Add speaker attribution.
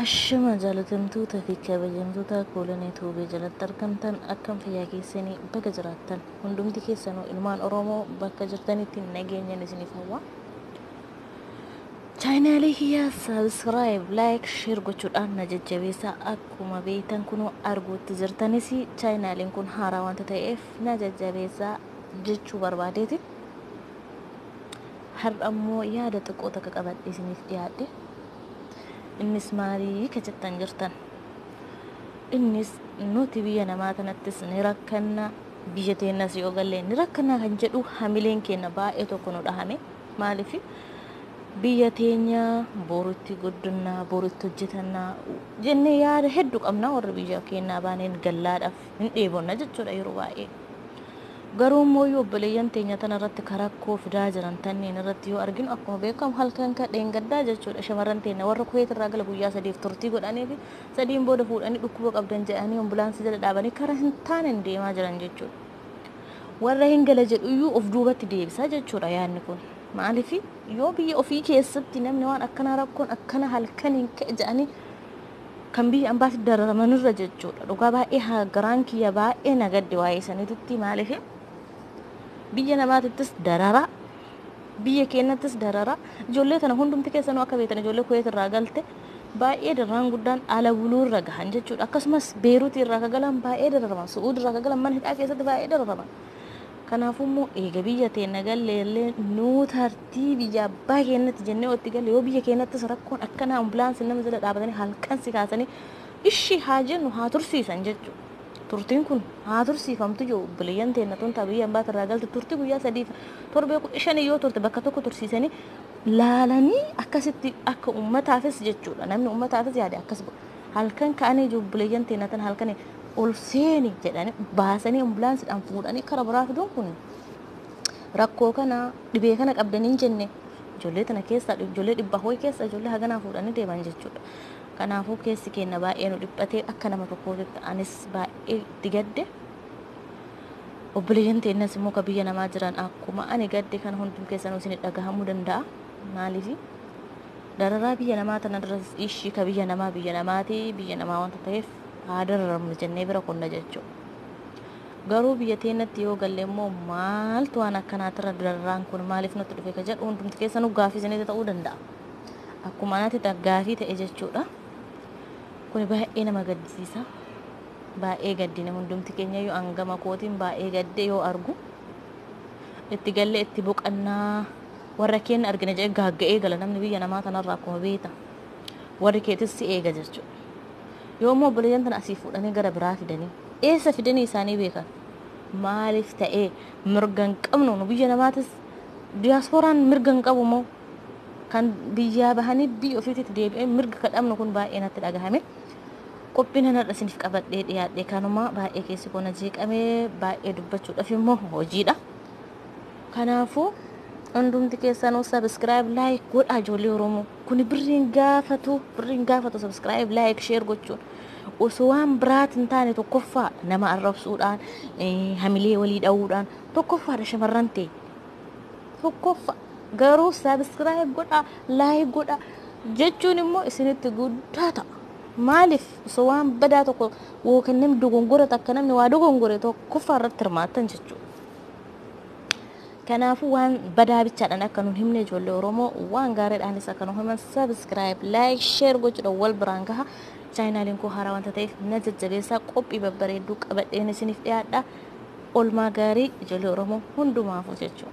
Speaker 1: Ashama jaalatamtoota fi kabajamtoota koolan Itoophiyaa jalatti argamtan akkam fayyaa keessanii baga jiraattan hundumti keessanuu ilmaan Oromoo bakka jirtanitti nageenyan isiniif hawwa. Chaayinaalii kiyya subscribe, like, share gochuudhaan na jajjabeessaa. Akkuma beektan kunoo arguutti jirtanis chaayinaaliin kun haaraa wanta ta'eef na jajjabeessaa jechuu barbaadeeti. Har'a immoo yaada xiqqoo takka qabadhe isiniif dhiyaadhe. Innis maalii ka jettan jirtan. Innis nuti biyya namaa kanattis ni rakkanna biyya teennas yoo galle ni rakkanna kan jedhu hamileen keenya baay'ee tokko nu dhahame. Maaliif biyya teenya boru itti guddinna, boru itti hojjetanna jennee yaada hedduu qabna warri biyya keenyaa baaneen gallaadhaaf hin dheebonna jechuudha yeroo baay'ee. Garuu immoo yoo obboleeyyan teenya tana irratti karakkoo fidaa jiran tanneen irratti yoo arginu akkuma beekamu halkan ka dheengaddaa jechuudha shamarran teenya warra kuweet irraa gala guyyaa sadiif turtii godhanii fi sadiin booda fuudhanii dhukkuba qabdan jedhanii ambulaansii jala dhaabanii karaa hin taaneen deemaa jiran jechuudha. warra hin gala jedhuyyuu of duubatti deebisa jechuudha yaadni kun. Maaliif yoo biyya ofii keessatti namni waan akkana rakkoon akkana halkan hin ka'e jedhanii kan biyya ambaatti dararaman irra jechuudha. Dhugaa baay'ee haa garaan kiyya baay'ee na gadde waa'ee sanitti maaliif biyya namaatittis darara biyya keenyattis darara ijoollee tana hundumti keessanuu akka beektan ijoollee kuweet irraa galte baay'ee dararaan guddaan ala buluu irra gahan jechuudha. Akkasumas Beeruutii irraa akka galan baay'ee dararaman, Su'uud irraa akka galan mana hidhaa keessatti baay'ee dararaman. Kanaafuu immoo eega biyya teenna gallee illee nuu tartii biyya abbaa keenyatti jennee otti galle yoo biyya keenyattis rakkoon akkanaa ambulaansiin nama jala dhaabatanii halkan si kaasanii ishii haa jennu haa tursiisan jechuudha. Turtiin kun haa tursiifamtu yoo obboleeyyan teenna tun ta'a biyya abbaa irraa galte turtii guyyaa sadiif torbee kudha shanii yoo turte bakka tokko tursiisanii laalanii akkasitti akka ummataafis jechuudha namni ummataafis yaade akkas godhu halkan ka'anii jubbileeyyan teenatan halkan ol seeni jedhanii baasanii ambulaansidhaan fuudhanii kara biraa fiduun kun rakkoo kana dhibee kana qabdanii hin jenne ijoollee tana keessa ijoollee dhibba ho'i keessa ijoollee haganaa fuudhanii deeman jechuudha. Kanaafuu keessi keenya baay'ee nu dhiphatee akka nama tokkootitti anis baay'ee itti gadde. Obboleeyyan teennas immoo ka biyya namaa jiran akkuma ani gadde kan hundum keessanuu isin dhagahamuu danda'a. Maaliifi? Dararaa biyya namaa tana duras ishii ka biyya namaa biyya namaati biyya namaa wanta ta'eef haa dararamnu jennee bira kunna jechuudha. Garuu biyya teennatti yoo galle immoo maaltu waan akkanaatirra dararaan kun maaliif nutti dhufe ka jedhu hundumti keessanuu gaafii isinitti ta'uu danda'a. Akkuma anatti gaafii ta'e jechuudha. Kuni baay'ee nama gaddisiisa. Baay'ee gaddine hundumti keenyayyuu an gama kootiin baay'ee gadde yoo argu itti galle itti boqannaa warra keenya argina jedhee gaagga'ee gala namni biyya namaa tanarraa akkuma beekta warri keetis si eega jechuudha. Yoo immoo obboleeyyan tana asii fuudhanii gara biraa fidanii eessa fidanii isaanii beekan maaliif ta'ee mirga hin qabnu nu biyya namaatis diyaaspooraan mirga hin qabu moo kan biyyaa bahanii biyya ofiitti deebi'ee mirga kadhabnu kun baay'ee natti dhagahame. Qophiin an har'a isiniif qabadhee dhiyaadhe kanuma baay'ee keessi koo na jeeqame baay'ee dubbachuudhaaf immoo hojiidha. Kanaafuu hundumti keessanuu sabiskiraayib laayik godhaa ijoollee Oromoo kuni birriin gaafatu birriin gaafatu sabiskiraayib laayik sheer gochuun osoo waan biraati hin taane tokkoffaa nama arrabsuudhaan eh, hamilee walii dha'uudhaan tokkoffaadha shamarran ta'e tokkoffa garuu subscribe godha like godha jechuun immoo isinitti guddaa ta'a maaliif osoo waan badaa tokko yookiin namni dogongora takka namni waa dogongore tokkoffaa irratti hirmaattan jechuudha. Kanaafuu waan badaa bichaadhaan akka nun himne ijoollee Oromoo waan gaariidhaanis akka nu himan subscribe like share gochuudhaan wal biraan gaha. Chaayinaaliin koo haaraa wanta ta'eef na jajjabeessaa qophii babbareedduu qabadheen isiniif dhiyaadha. Olmaa gaarii ijolee oromoo hundumaafu jechuu.